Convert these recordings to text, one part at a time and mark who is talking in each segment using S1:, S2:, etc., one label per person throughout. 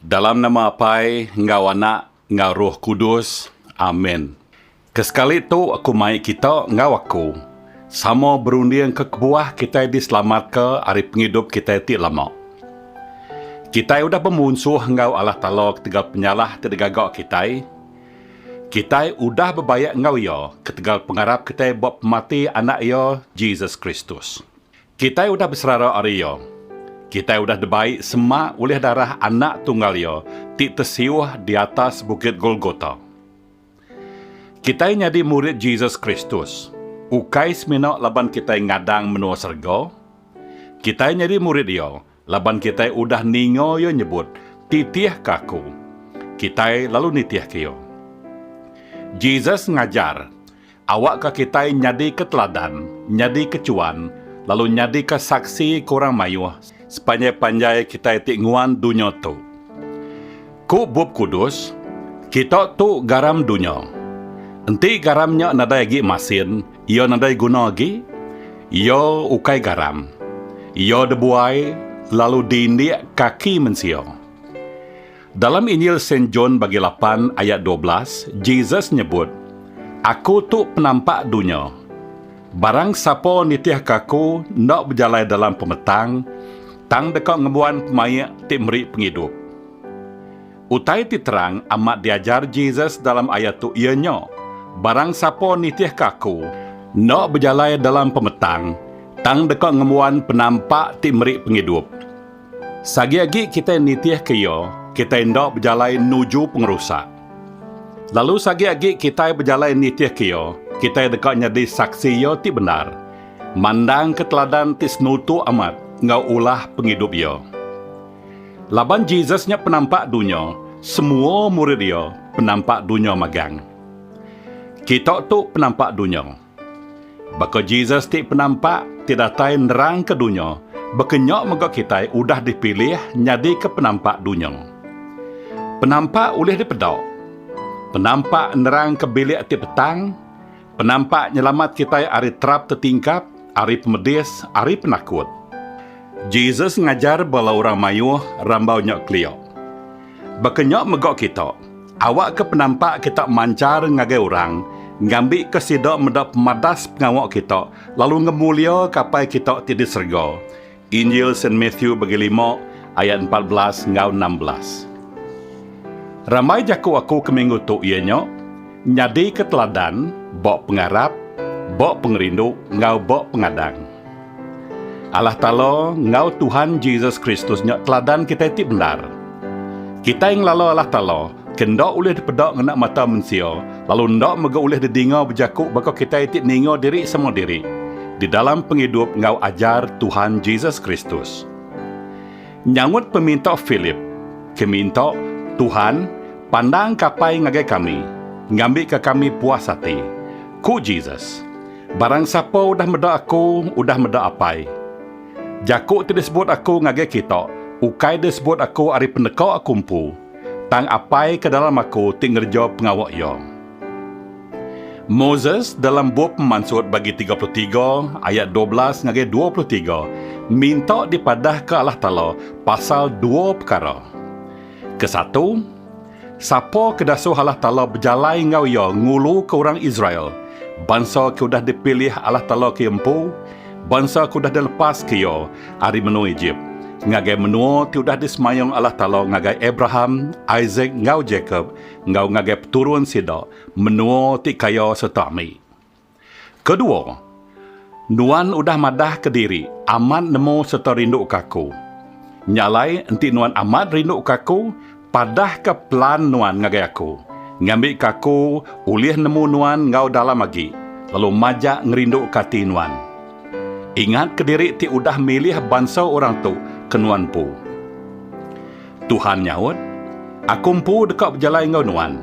S1: Dalam nama Apai enggau Anak enggau Roh Kudus. Amen. Kesekali tu aku mai kita enggau aku sama berundingka kebuah kitai diselamatka ari pengidup kitai ti lama. Kitai udah bemunsuh enggau Allah Taala ketegal penyalah ti digaga kitai. Kitai udah bebaik enggau Iya ketegal pengarap kitai ba pemati Anak Iya, Jesus Kristus. Kitai udah beserara ari iya. Kitai udah debai sema ulih darah Anak Tunggal iya ti tesiuh di atas Bukit Golgota. Kitai nyadi murid Jesus Kristus, ukai semina laban kitai ngadang menua serega. Kitai nyadi murid iya Laban kitai udah ninga iya nyebut, Titihka aku, kitai lalu nitihka iya. Jesus ngajar, Awakka kitai nyadika teladan, nyadika chuan, lalu nyadika saksi ke orang mayuh sepanjai-panjai kitai ti nguan dunya tu. Ku Bup Kudus, Kita tu garam dunya. Enti garam nya nadai agi masin, Iya nadai guna agi, iya ukai garam. Iya debuai lalu diindik kaki mensia. Dalam Injil Saint John bagi lapan ayat dua belas, Jesus nyebut, Aku tu penampak dunya. Barang sapa nitihka Aku enda bejalai dalam pemetang, tang deka ngembuan pemaik ti meri pengidup. Utai ti terang amat diajar Jesus dalam ayat tu iya nya, Barang sapa nitihka Aku, enda bejalai dalam pemetang, tang deka ngembuan penampak ti meri pengidup. Sagi agi kitai nitihka iya, kitai enda bejalai nuju pengerusak. Lalu sagi agi kitai bejalai nitihka iya, kitai deka nyadi saksi iya ti bendar, mandangka teladan ti senutuk amat enggau ulah pengidup iya. Laban Jesus nya penampak dunya, semua murid iya penampak dunya magang. Kita tu penampak dunya. Baka Jesus ti penampak ti datai nerangka dunya, baka nya mega kitai udah dipilih nyadika penampak dunya. Penampak ulih dipeda. Penampak nerangka bilik ti petang. Penampak Nyelamat kitai ari terap tetingkap, ari pemedis, ari penakut. Jesus ngajar bala orang mayuh rambau nya kelia. Baka nya mega kita, awakka penampak kita manchar ngagai orang ngambika sida meda pemadas pengawa kita lalu ngemuliaka Apai kita ti di serega Injil Saint Matthew bagi lima ayat empat belas enggau enam belas. Rambai jaku aku ke minggu tu iya nya, Nyadika teladan, ba pengarap, ba pengerindu enggau ba pengadang. Allah Taala enggau Tuhan Jesus Kristus nya teladan kitai ti bendar. Kitai ngelala Allah Taala Ke enda ulih dipeda ngena mata mensia, lalu enda mega ulih didinga bejaku baka kitai ti ninga diri sama diri, di dalam pengidup enggau ajar Tuhan Jesus Kristus. Nyaut peminta Philip, ke minta, Tuhan, pandang kapai ngagai kami, ngambika kami puas ati. Ku Jesus, Barang sapa udah meda Aku, udah meda Apai. Jaku ti disebut Aku ngagai kita, ukai disebut Aku ari peneka Aku empu, Tang Apai ke dalam Aku ti ngereja pengawa Iya. Moses dalam bup Pemansut bagi tiga puluh tiga ayat dua belas ngagai dua puluh tiga minta dipadahka Allah Taala pasal dua pekara. Ke satu, sapa ke dasuh Allah Taala bejalai enggau iya nguluka orang Israel, bansa ke udah dipilih Allah Taala ke empu, bansa ke udah dilepaska Iya, ari menua Ejip, ngagai menua ti udah disemayung Allah Taala ngagai Abraham, Isak, enggau Jakop, enggau ngagai peturun sida, menua ti kaya sereta ambi. Kedua, nuan udah madahka diri amat nemu sereta rinduka Aku. Nya alai, enti nuan amat rinduka Aku, Padahka pelan nuan ngagai aku, ngambika aku ulih nemu nuan enggau dalam agi, lalu majak ngerinduka ati nuan. Ingatka diri ti udah milih bansa orang tu ke nuan empu. Tuhan nyaut, Aku empu deka bejalai enggau nuan.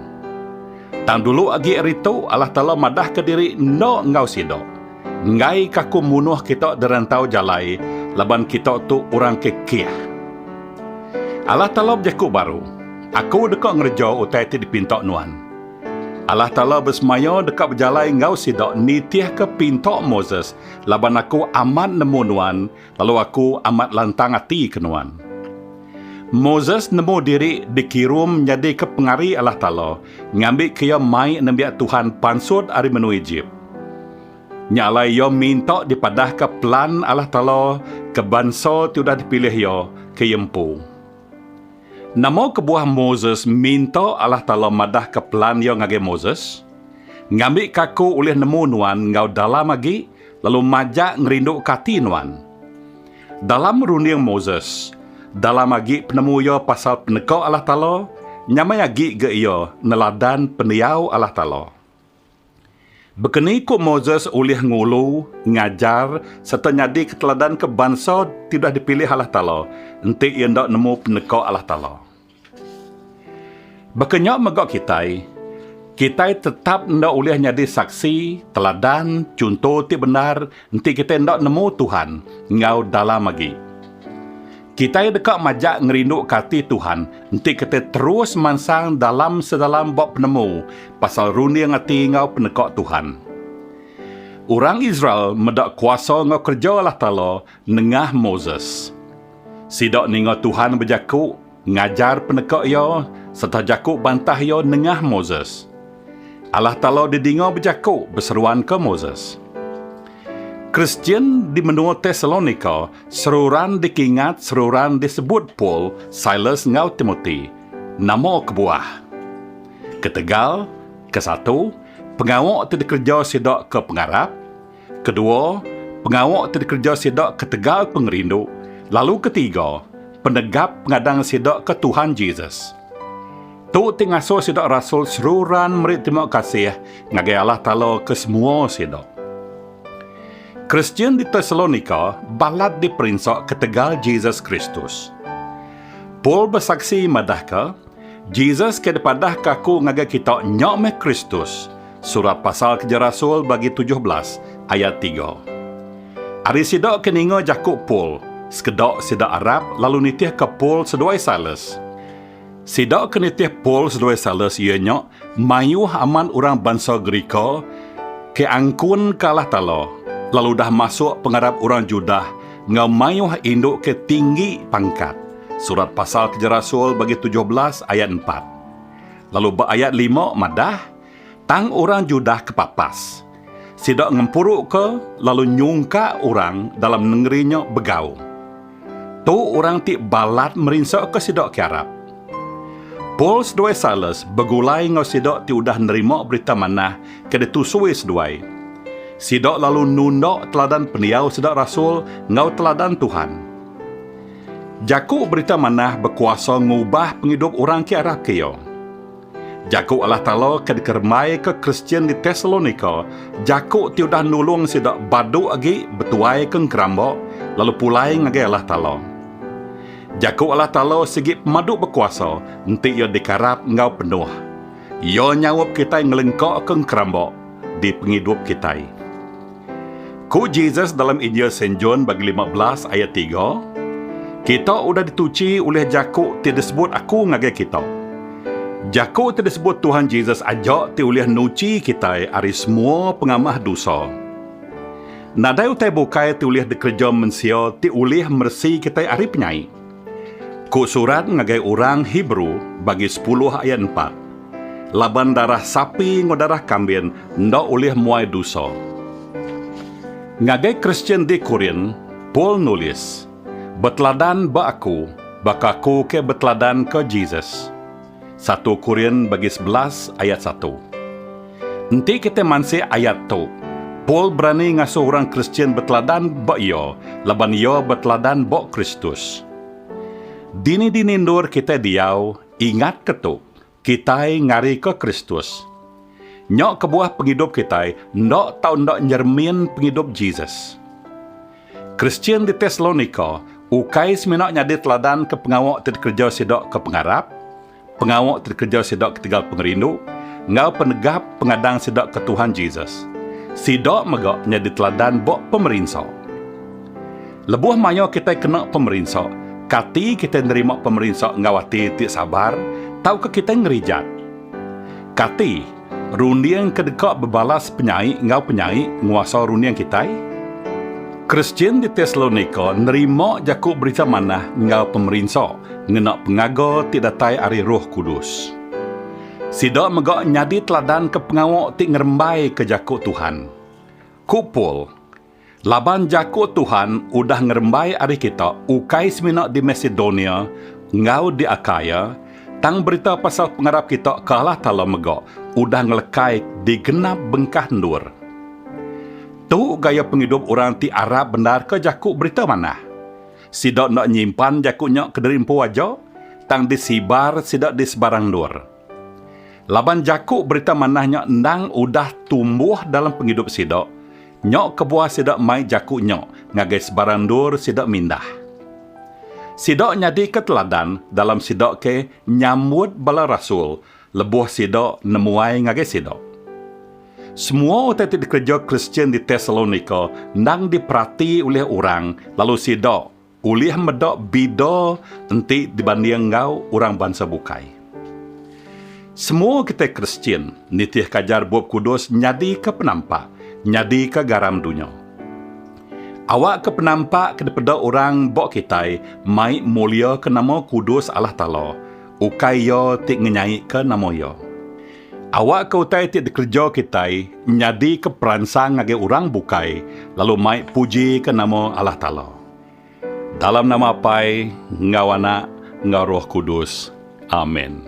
S1: Tang dulu agi ari tu Allah Taala madahka diri enda enggau sida. Enggai ka aku munuh kita dirantau jalai laban kita tu orang ke keh. Allah Taala bejaku baru, Aku deka ngereja utai ti dipinta nuan. Allah Taala besemaya deka bejalai enggau sida nitihka Pinta Moses laban Aku amat nemu nuan Lalu aku amat lantang ati ke nuan. Moses nemu diri dikirum nyadika pengari Allah Taala ngambika iya mai nembiak Tuhan pansut ari menua Ejip. Nya alai iya minta dipadahka pelan Allah Taala ke bansa ti udah dipilih Iya ke iya empu. Nama kebuah Moses minta Allah Taala madahka pelan Iya ngagai Moses? Ngambika aku ulih nemu nuan enggau dalam agi, Lalu majak ngerinduka ati nuan. Dalam runding Moses, dalam agi penemu iya pasal peneka Allah Taala, nyamai agi ga iya neladan pendiau Allah Taala. Baka ni ku Moses ulih ngulu, ngajar, sereta nyadika teladan ke bansa ti udah dipilih Allah Taala enti iya enda nemu peneka Allah Taala? Baka nya mega kitai, kitai tetap enda ulih nyadi saksi, teladan, chunto ti bendar enti kitai enda nemu Tuhan enggau dalam agi. Kitai deka majak ngerinduka ati Tuhan enti kitai terus mansang dalam sedalam ba penemu pasal runding ati enggau peneka Tuhan. Orang Israel meda kuasa enggau kereja Allah Taala Nengah Moses. Sida ninga Tuhan bejaku, ngajar peneka Iya, sereta jaku bantah Iya nengah Moses. Allah Taala didinga bejaku beseruanka Moses. Kristian di menua Tesalonika seruran dikingat seruran disebut Paul, Silas enggau Timoti. Nama kebuah? Ketegal, kesatu, pengawa ti dikereja sida ke pengarap, Kedua, pengawa ti dikereja sida ketegal pengerindu, lalu ketiga, penegap pengadang sida ke Tuhan Jesus. Tu ti ngasuh sida rasul seruran meri terima kasih ngagai Allah Taala ke semua sida. Kristian di Tesalonika balat diperinsa ketegal Jesus Kristus. Paul besaksi madahka, Jesus ke dipadahka aku ngagai kita nya meh Kristus, Surat Pasal Keja Rasul bagi tujuh belas ayat tiga. Ari sida ke ninga jaku Paul, sekeda sida arap lalu nitihka Paul seduai Silas. Sida ke nitih Paul seduai Silas iya nya mayuh amat orang bansa Gerika ke angkun ke Allah Taala lalu udah masuk pengarap orang Judah enggau mayuh indu ke tinggi pangkat. Surat Pasal Keja Rasul bagi tujuh belas ayat empat lalu ba ayat lima madah, Tang orang Judah ke papas. Sida ngempuruka lalu nyungkak orang dalam nengeri nya begaum. Tu orang ti balat merinsaka sida ke arap. Paul seduai Silas begulai enggau sida ti udah nerima Berita Manah ke ditusui seduai. Sida lalu nunda teladan pendiau sida rasul enggau teladan Tuhan. Jaku Berita Manah bekuasa ngubah pengidup orang ke arap ke iya. Jaku Allah Taala ke dikeremaika Kristian di Tesalonika, jaku ti udah nulung sida badu agi betuaika engeramba lalu pulai ngagai Allah Taala. Jaku Allah Taala sigi pemadu bekuasa enti iya dikarap enggau penuh. Iya nyaup kitai ngelengkaka engeramba di pengidup kitai. Ku Jesus dalam Injil Saint John bagi lima belas ayat tiga, Kita udah dituchi ulih jaku ti disebut Aku ngagai kita. Jaku ti disebut Tuhan Jesus aja ti ulih nuchi kitai ari semua pengamah dosa. Nadai utai bukai ti ulih dikereja mensia ti ulih meresi kitai ari penyai. Ku surat ngagai orang Hebrew bagi sepuluh ayat empat, laban darah sapi enggau darah kambin enda ulih muai dusa. Ngagai Kristian di Korint, Paul nulis, Beteladan ba aku, baka aku ke beteladanka Jesus. Satu Korin bagi sebelas ayat satu. Enti kitai mansik ayat tu, Paul berani ngasuh orang Kristian beteladan ba iya laban iya beteladan ba Kristus. Dini-dini endur kitai diau, ingatka tu, kitai ngarika Kristus. Nya kebuah pengidup kitai enda tau enda nyeremin pengidup Jesus. Kristian di Tesalonika ukai semina nyadi teladan ke pengawa ti dikereja sida ke pengarap, pengawa ti dikereja sida ketegal pengerindu, enggau penegap pengadang sida ke Tuhan Jesus. Sida mega nyadi teladan ba pemerinsa. Lebuh maya kitai kena pemerinsa, kati kitai nerima pemerinsa enggau ati ti sabar tauka kitai ngerijat? Kati runding ke deka bebalas penyai enggau penyai nguasa runding kitai? Kristian di Tesalonika nerima jaku berita manah enggau pemerinsa ngena pengaga ti datai ari Roh Kudus. Sida mega nyadi teladan ke pengawa ti ngerembaika jaku Tuhan. Ku Paul, Laban jaku Tuhan udah ngerembai ari kita ukai semina di Masedonia enggau di Akaia, tang berita pasal pengarap kita ke Allah Taala mega udah ngelekai di genap bengkah endur. Tu gaya pengidup orang ti arap bendarka jaku Berita Manah. Sida enda nyimpan jaku nya kediri empu aja, tang disebar sida di sebarang endur. Laban jaku Berita Manah nya endang udah tumbuh dalam pengidup sida, nya kebuah sida mai jaku nya ngagai sebarang endur sida mindah. Sida nyadika teladan dalam sida ke nyambut bala rasul lebuh sida nemuai ngagai sida. Semua utai ti dikereja Kristian di Tesalonika endang diperati ulih orang lalu sida, Ulih meda bida enti dibanding enggau orang bansa bukai. Semua kitai Kristian nitihka ajar Bup Kudus nyadika penampak, nyadika garam dunya. Awakka penampak ke dipeda orang ba kitai mai muliaka nama kudus Allah Taala, ukai iya ti ngenyaika nama Iya. Awakka utai ti dikereja kitai nyadika peransang ngagai orang bukai lalu mai pujika nama Allah Taala. Dalam nama Apai, enggau Anak, enggau Roh Kudus. Amen.